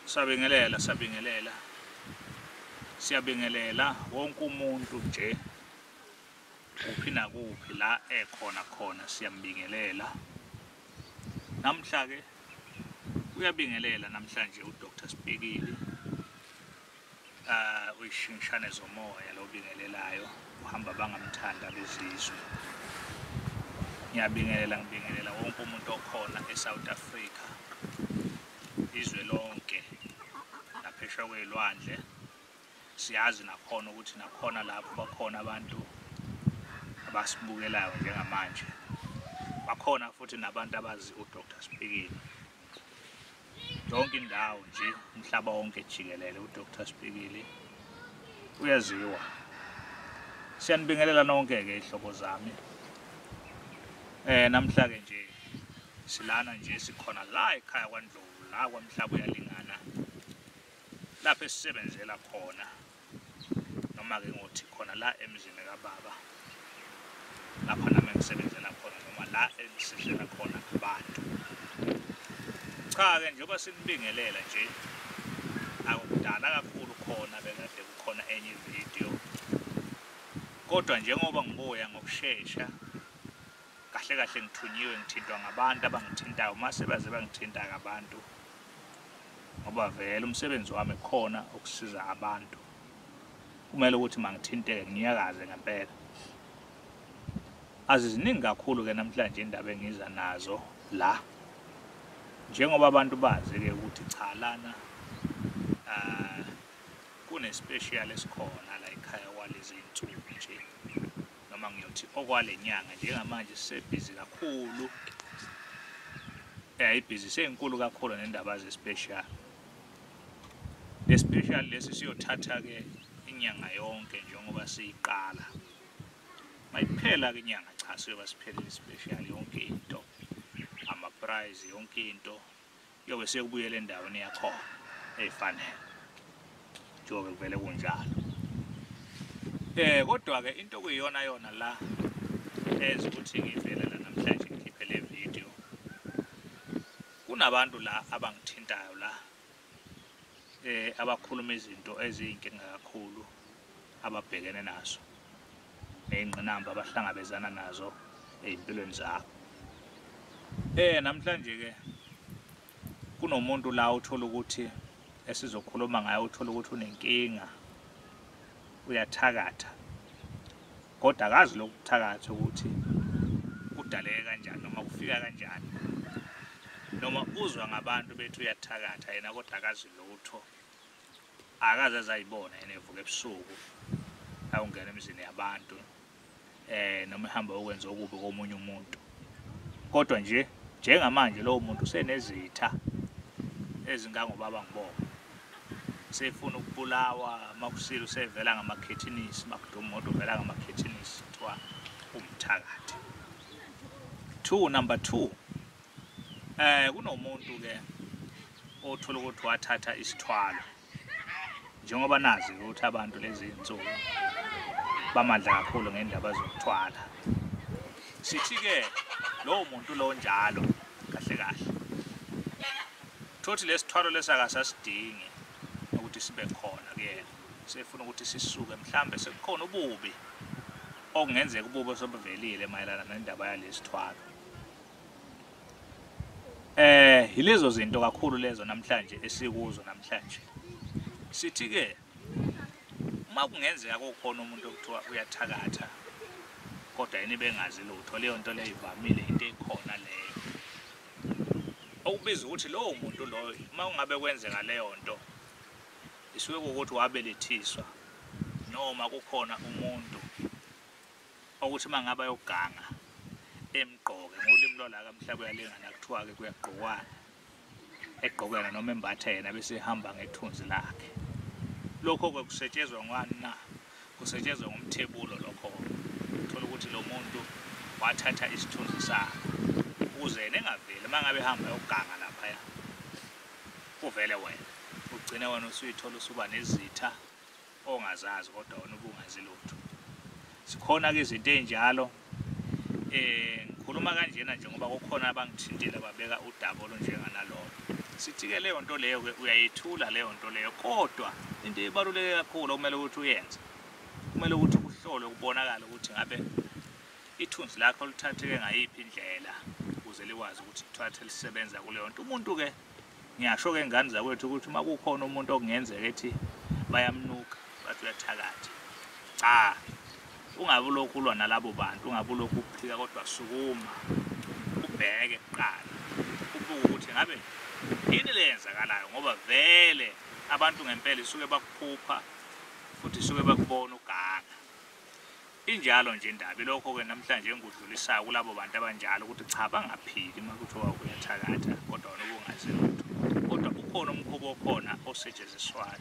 Sabingelela, sabingelela. Siyabingelela wonke umuntu nje kuphi nakuphi la ekhona khona siyambingelela. Namhla ke uyabingelela namhlanje uDr Sibhekile. Ah, uyishingishane zomoya lo bingelelayo uhamba bangamthanda bezizwe ngiyabingelela ngibingelela wonke umuntu okhona e-south africa izwe lonke naphesha kwey'lwandle siyazi nakhona ukuthi nakhona lapho bakhona abantu abasibukelayo njengamanje bakhona futhi nabantu abazi udr spikini yonke indawo nje umhlaba wonke jikelele uDr Sibhikili uyaziwa siyanibingelela nonke ke ihlobo zami eh namhla ke nje silana nje sikhona la ekhaya kwaNdlovu la kwamhlaba uyalingana lapho esisebenzela khona noma-ke ngothi khona la emzini kababa lapha nami engisebenzela khona noma la engisidlela khona abantu cha-ke njengoba sinibingelela nje akudala kakhulu khona bekade kukhona enye ividiyo kodwa njengoba ngibuya ngokushesha kahle kahle ngithunyiwe ngithintwa ngabantu abangithintayo uma sebaze bangithinta ngabantu ngoba vele umsebenzi wami khona ukusiza abantu kumele ukuthi mangithinteke ngiyakaze ngempela aziziningi kakhulu ke namhlanje indaba engiza nazo la njengoba abantu bazi ke ukuthi cha lana uh, kunespecial esikhona la ekhaya kwalezi nsuku nje noma ngiyothi okwale nyanga njengamanje sisebhizi kakhulu eh ibhizi seyinkulu kakhulu nendaba zespecial lespecial lesi siyothatha ke inyanga yonke njengoba siyiqala mayiphela ke inyanga cha siyoba siphelele special yonke into ama prize yonke into kuyobe sekubuyela endaweni yakhona eyifanele njengoba kuvele kunjalo eh kodwa ke into kuyiyona yona la enza ukuthi ngivele la namhlanje ngikhiphe le video kunabantu la abangithintayo la eh abakhuluma izinto eziyinkinga kakhulu ababhekene nazo nezingqinamba abahlangabezana nazo ezimpilweni zabo eh namhlanje ke kunomuntu la uthola ukuthi esizokhuluma ngayo uthola ukuthi unenkinga uyathakatha kodwa akazi lokuthakatha ukuthi kudaleke kanjani noma kufika kanjani noma uzwa ngabantu bethi uyathakatha yena kodwa akazi lutho akaze azayibona yena evuka ebusuku awungena emizini yabantu eh noma ehamba ukwenza okubi komunye umuntu kodwa nje njengamanje lowo muntu usenezitha ezingangobaba ngibonga sefuna ukubulawa makusile usevela ngamakhethinisi makuduma umuntu uvela ngamakhethinisi kuthiwa umthakathi two number two eh kunomuntu ke othola ukuthi wathatha isithwalo njengoba nazi ukuthi abantu lezi nsuku bamadla kakhulu ngendaba zokuthwala sithi ke lowo muntu lo njalo kahle kahle Thothi lesithwalo lesakasasidingi ukuthi sibe khona kuyena. Sefuna ukuthi sisuke mhlambe sekukhona ububi okungenzeka ububi osobuvelile mayelana nendaba yalesithwalo. Eh yilezo zinto kakhulu lezo namhlanje esikuzo namhlanje. Sithi ke uma kungenzeka kokhona umuntu okuthiwa uyathakatha kodwa yini bengazi lutho leyo nto leyo ivamile into ekhona leyo okubiza ukuthi lowo muntu loyo uma kungabe kwenzeka leyo nto isuke kuwukuthi wabelethiswa noma kukhona umuntu okuthi uma ngabe ayoganga emgqoke ngolimi lwalaka mhla kuyalingana kuthiwa-ke kuyagqokwana egqoke yena noma embathe yena bese ehamba ngethunzi lakhe lokho-ke kusetshezwa ngani na kusetshenzwe ngomthebulo lokho thola ukuthi lo muntu wathatha isithunzi sakhe ukuze yena engaveli uma ngabe ehamba yoganga laphaya kuvele wena ugcine wena usuyithola usuba nezitha ongazazi kodwa wena ubungazi lutho sikhona-ke izinto ey'njalo eh ngikhuluma kanjena nje ngoba kukhona abangithintile babeka udaba olunjenganalolo sithi-ke leyo nto leyo-ke uyayithula leyo nto leyo kodwa into ebaluleke kakhulu okumele ukuthi uyenze kumele ukuthi kuhlolwe kubonakale ukuthi ngabe ithunzi lakho lithatheke ngayiphi indlela ukuze likwazi ukuthi kuthathe lisebenza kuleyo nto umuntu-ke Ngiyasho ke ngane zakwethu ukuthi uma kukhona umuntu okungenzeka ethi bayamnuka bathi uyathakatha. Cha. Ungabe ulokhu ulwa nalabo bantu, ungabe ulokhu uphika kodwa sukuma. Ubheke kuqala. Ubuke ukuthi ngabe yini le yenzakalayo ngoba vele abantu ngempela isuke bakuphupha futhi isuke bakubona uganga. Injalo nje indaba ilokho-ke namhlanje engikudlulisayo kulabo bantu abanjalo ukuthi cha bangaphiki uma kuthiwa uyathakatha kodwa wena ubungazi lutho kodwa ukhona umkhuba okhona osetshenziswayo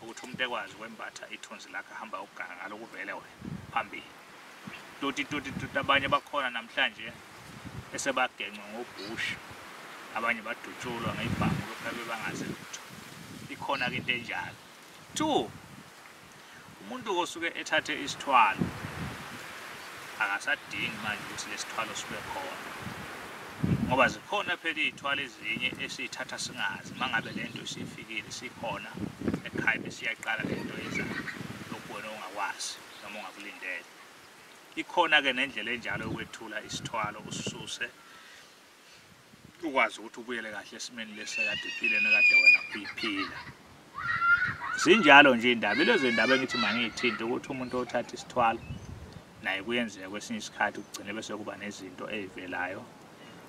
ukuthi umuntu ekwazi ukwembatha ithunzi lakhe ahamba ukuganga ngalo kuvele wena phambili toti toti toti abanye bakhona namhlanje esebagencwe ngobhusha abanye badutshulwa ngey'bhamu lokhu abebangazi lutho ikhona-ke into enjalo Two, umuntu osuke ethathe isithwalo akasadingi manje ukuthi lesithwalo sibe khona ngoba zikhona phela iy'thwalo ezinye esiyithatha singazi uma ngabe le nto isifikile sikhona ekhaya besiyaqala le nto ezayo lokhu wena ungakwazi noma ungakulindele ikhona-ke nendlela enjalo yokwethula isithwalo usisuse ukwazi ukuthi ubuyele kahle esimeni lesi ekade uphile nekade wena uyiphila zinjalo nje indaba ilezi ndaba engithi mangiyithinte ukuthi umuntu othatha isithwalo naye kuyenzeka kwesinye isikhathi kugcine bese kuba nezinto ezivelayo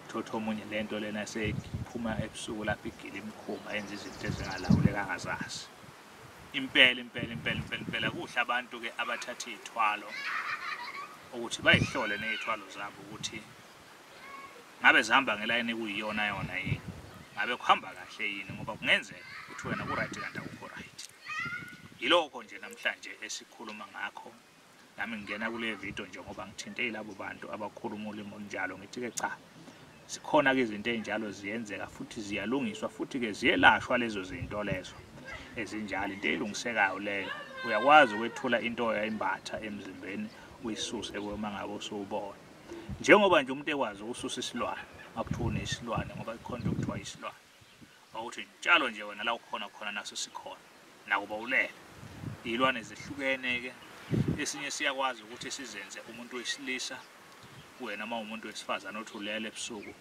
thotha omunye lento lena seyiphuma ebusuku lapho igile imkhumba yenza izinto ezingalawuleka ngazazi impela impela impela impela impela kuhle abantu ke abathatha izithwalo ukuthi bayihlole nezithwalo zabo ukuthi ngabe zihamba ngelayini ekuyiyona yona yini ngabe kuhamba kahle yini ngoba kungenzeka ukuthi wena ku-right kanti akukho right yilokho nje namhlanje esikhuluma ngakho nami ngingena kule video nje ngoba ngithinte yilabo bantu abakhuluma ulimi olunjalo ngithi-ke cha zikhona-ke izinto ey'njalo ziyenzeka futhi ziyalungiswa futhi-ke ziyelashwa lezo zinto lezo ezinjalo into elungisekayo leyo uyakwazi ukwethula into yayimbatha emzimbeni uyisuse kwema ngabe usubona njengoba nje umuntu ekwazi ukususa isilwane makuthiwa unesilwane ngoba ikhona into okuthiwa isilwane ukuthi njalo nje wena la ukhona khona naso sikhona nakuba ulele iy'lwane zihlukene-ke esinye siyakwazi ukuthi sizenze umuntu wesilisa wena uma umuntu wesifazane othi ulele ebusuku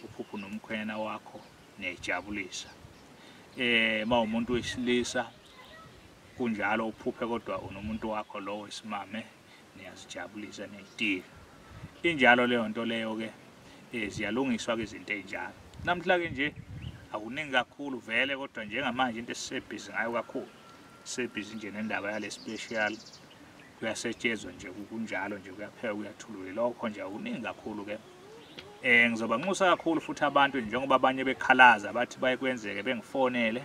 uphuphu nomkhwenyana wakho niyayijabulisa eh uma umuntu wesilisa kunjalo uphuphe kodwa unomuntu wakho lowo isimame niyazijabulisa neyitiya injalo leyo nto leyo ke eh, ziyalungiswa ke izinto ezinjalo namhla ke nje akuningi kakhulu vele kodwa njengamanje into esisebhizi ngayo kakhulu sebhizi nje nendaba yale special kuyasetshezwa nje kunjalo nje kuyapheka kuyathulule lokho nje akuningi kakhulu ke Eh ngizoba nxusa kakhulu futhi abantu njengoba abanye bekhalaza bathi bayekwenzeke bengifonele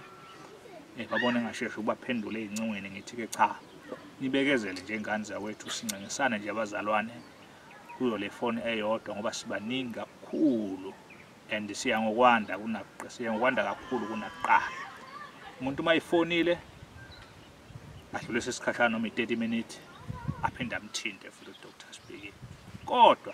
eh babone ngasheshi ubaphendule ezincongweni ngithi ke cha nibekezele nje ingane zakwethu sincengisane nje abazalwane kuyo le foni eyodwa ngoba sibaningi kakhulu and siya ngokwanda kunakuqala siya ngokwanda kakhulu kunakuqala umuntu uma ifonile adlulise isikhashana noma i-30 minutes aphinde amthinte futhi udr sibhekile kodwa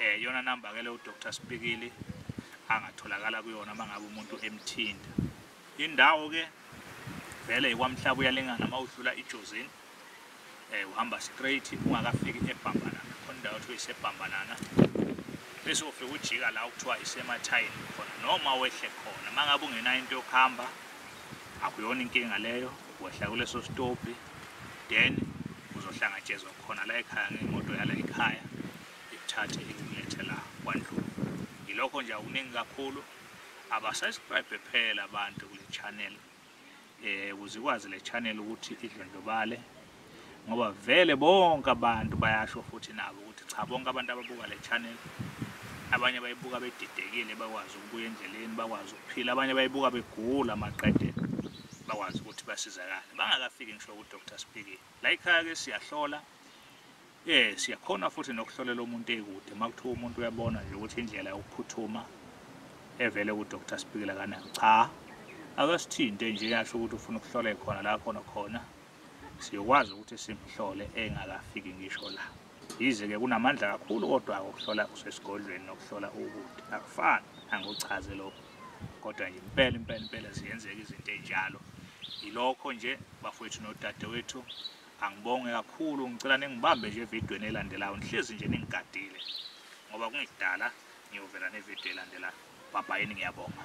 Eh yona number ke le u Dr Spikili angatholakala kuyona mangabe umuntu emthinta. Indawo ke vele ikwamhlaba uyalingana mawudlula iJozini. Eh uhamba straight ungakafiki eBhambanana. Khona indawo kuthiwa iseBhambanana. Bese ufika ujika la kuthiwa isemathayini khona noma wehle khona. Mangabe ungena into yokuhamba akuyona inkinga leyo wehla kuleso stophi then uzohlangatshezwa khona la ekhaya ngemoto yala ekhaya ikuthathe ikulethe la kwandlulu yilokho nje akuningi kakhulu abasubscribe phela abantu kule channel eh ukuze ikwazi le channel ukuthi idlondlobale ngoba vele bonke abantu bayasho futhi nabo ukuthi cha bonke abantu ababuka le channel abanye bayibuka bedidekile bakwazi ukubuya endleleni bakwazi ukuphila abanye bayibuka begula maqede bakwazi ukuthi basizakale bangakafiki ngisho kudr spiki la ikhaya-ke siyahlola um siyakhona futhi nokuhlolela umuntu eyikude uma kuthiwa umuntu uyabona nje ukuthi indlela yokuphuthuma evele kudr spikile kanayo cha akasithinte nje yasho ukuthi ufuna ukuhlola ekhona la khona khona siyokwazi ukuthi simhlole engakafiki ngisho la yize-ke kunamandla kakhulu kodwa-ke ukuhlola usesigodlweni nokuhlola ukude akufani angiwuchaze lokho kodwa nje impela impela impela ziyenzeka izinto enjalo yilokho nje bafowethu nodadewethu angibonge kakhulu ngicela ningibambe nje evidweni elandelayo ngihlezi nje ningigadile ngoba kungidala ngiyovela nevidiyo elandelayo bhabhayini ngiyabonga